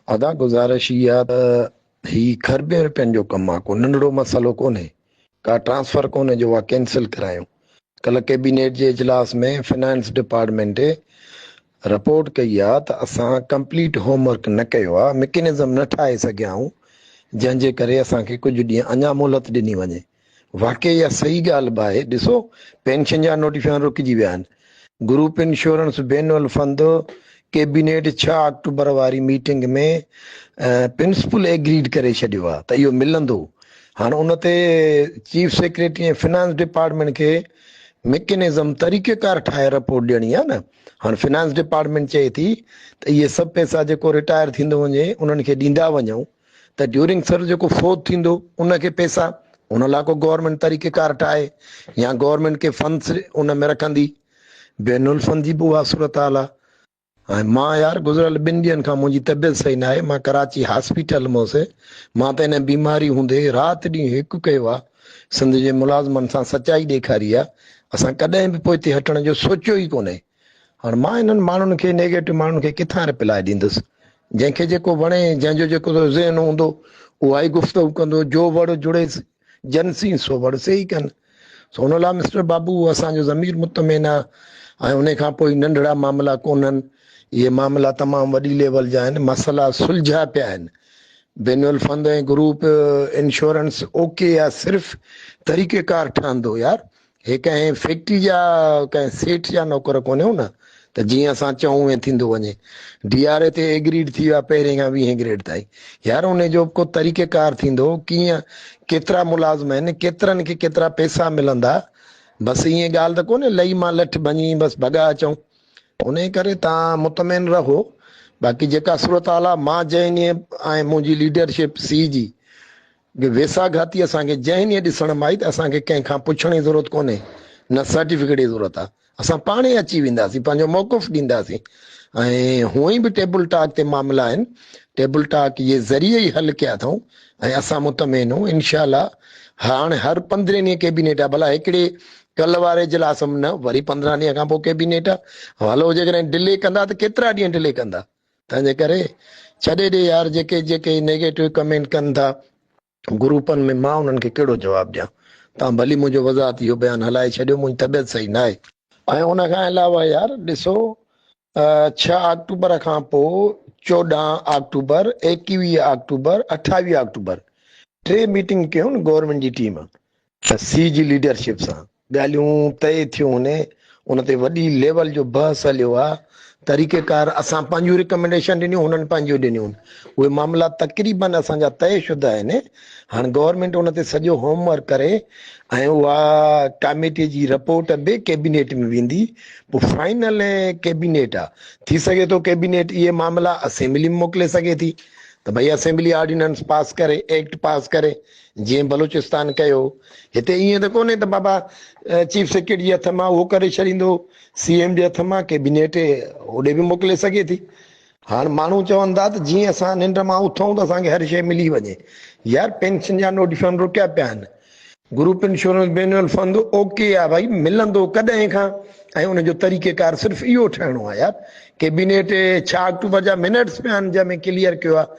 ادا گذارش اها ته هي کربين رپين جو ڪم آ ڪو ننڍڙو مسئلو ڪونهي ڪا ٽرانسفر ڪونهي جو اها ڪينسل ڪرايون ڪلهه ڪيبينيٽ جي اجلاس ۾ فنانس ڊپارٽمينٽ رپورٽ ڪئي آ ته اسان ڪمپليٽ هوم ورڪ نه ڪيو آ مڪينزم نه ٺاهي سگهيا آهون جنهن جي ڪري اسان کي ڪجهه ڏينهن اڃا مهلت ڏني وڃي واقعي اها صحيح ڳالهه به آهي، ڏسو پينشن جا نوٽيفڪيشن رڪجي ويا آهن، گروپ انشورنس بين الفند ڪيبينيٽ ڇهه آڪٽوبر واري ميٽنگ ۾ پرنسپل ايگريڊ ڪري ڇڏيو آهي ته اهو ملندو، هاڻ ان تي چيف سيڪريٽري ۽ فنانس ڊپارٽمينٽ کي مڪينزم طريقيڪار ٺاهي رپورٽ ڏيڻي آهي نه، هاڻ فنانس ڊپارٽمينٽ چئي ٿي ته اهي سڀ پئسا جيڪو رٽائر ٿيندو وڃي انهن کي ڏيندا وڃون، ته ڊيورنگ سروس جيڪو فوت ٿيندو ان کي پيسا ان لاء ڪو گورنمينٽ طريقي ڪار ٺاهي يا گورنمينٽ ڪي فنس ان ۾ رکندي بين الفن جي به اها صورتحال آ ۽ مان يار گذريل ٻن ڏينهن کان منهنجي طبيعت صحيح ناهي مان ڪراچي هاسپيٽل م هوسي مان ته ان بيماري هوندي رات ڏينهن هڪ ڪيو آ سنڌ جي ملازمن سان سچائي ڏيکاري آ اسان ڪڏهن به پوئتي هٽڻ جو سوچيو ئي ڪونهي هاڻ مان انهن ماڻهن کي نيگيٽو ماڻهن کي ڪٿان رپلاء ڏيندس جنهن کي جيڪو وڻي جنهن جو جيڪو ذهن هوندو اها ئي گفتگو ڪندو جو وڙ جڙي جن سين سو وڙ سي ئي ڪن سو ان لاء مسٽر بابو اسان جو ضمير مطمئن آ ۽ ان کان پوء ننڍڙا معاملا ڪونهن اهي معاملا تمام وڏي ليول جا آهن مسئلا سلجهيا پيا آهن بين الفند ۽ گروپ انشورنس اوڪي آ صرف طريقه ڪار ٺهندو يار هي ڪنهن فيڪٽري جا ڪنهن سيٺ جا نوڪر ڪونهيون نه ته جيئن اسان چئون ايئن ٿيندو وڃي. ڊي آر اي تي ايگريڊ ٿي ويا پهرين کان ويهين گريڊ تائين. يار ان جو به ڪو طريقه ڪار ٿيندو ڪيئن ڪيترا ملازم آهن ڪيترن کي ڪيترا پيسا ملندا بس ايئن ڳالهه ته ڪونهي لئي مان لٺ ڀڃي بس ڀڳا اچون. انهي ڪري توهان مطمئن رهو باقي جيڪا صورتحال آهي مان جنهن ڏينهن ۽ منهنجي ليڊرشپ سي جي جو ويساهه گهاتي اسان کي ذهن ائين ڏسڻ ۾ آئي ته اسان کي ڪنهن کان پڇڻ جي ضرورت ڪونهي، نه سرٽيفڪيٽ جي ضرورت آهي، اسان پاڻ ئي اچي وينداسين، پنهنجو موقف ڏينداسين ۽ هونئن به ٽيبل ٽاڪ تي معاملا آهن، ٽيبل ٽاڪ جي ذريعي ئي حل ڪيا اٿئون ۽ اسان مطمئن اهون انشاء الله هاڻ هر پندرهين ڏينهن ڪيبينيٽ آهي ڀلا هڪڙي ڪلهه واري اجلاس ۾ نه وري پندرهن ڏينهن کان پوء ڪيبينيٽ آهي هلو جيڪڏهن ڊلي ڪندا ته ڪيترا ڏينهن ڊلي ڪندا. تنهنجي ڪري ڇڏي ڏي يار جيڪي جيڪي هي نيگيٽو ڪمينٽ ڪن ٿا گروپن ۾ مان انهن کي ڪهڙو جواب ڏيان تان ڀلي منهنجو وضاحت اهو بيان هلائي ڇڏيو منهنجي طبيعت صحيح ناهي. ۽ ان کان علاوه يار ڏسو ڇهه آڪٽوبر کان پو چوڏهن آڪٽوبر ايڪيويهه آڪٽوبر اٺاويهه آڪٽوبر ٽي ميٽنگ ڪيون گورنمينٽ جي ٽيم ته سي جي ليڊرشپ سان ڳالهيون طئي ٿيون هوني ان تي وڏي ليول جو بحث هليو آ طريقه ڪار اسان پنهنجون رڪمينڊيشن ڏنيون هنن پنهنجون ڏنيون اهي معاملا تقريبن اسان جا طئي شده آهن هاڻ گورنمينٽ ان تي سڄو هوم ورڪ ڪري ۽ اها ڪاميٽي جي رپورٽ به ڪيبينيٽ ۾ ويندي پوء فائنل ڪيبينيٽ آ ٿي سگهي ٿو ڪيبينيٽ اهي معاملا اسيمبلي ۾ موڪلي سگهي ٿي ته ڀئي اسيمبلي آرڊيننس پاس ڪري ايڪٽ پاس ڪري جيئن بلوچستان ڪيو هتي ائين ته ڪونهي ته بابا چيف سيڪريٽري جي هٿ مان اهو ڪري ڇڏيندو سي ايم جي هٿ مان ڪيبينيٽ اوڏي به موڪلي سگهي ٿي هاڻ ماڻهو چون ٿا ته جيئن اسان ننڊ مان اٿون ته اسان کي هر شيء ملي وڃي يار پينشن جا نوٽيفڪيشن رڪيا پيا آهن group insurance benevolent fund okay آ ڀائي ملندو ڪڏهن کان ۽ ان جو طريقه ڪار صرف اهو ٺهڻو آ يار ڪيبينيٽ 6 آڪٽوبر جا منٽس پيا آهن جنهن ۾ ڪليئر ڪيو آ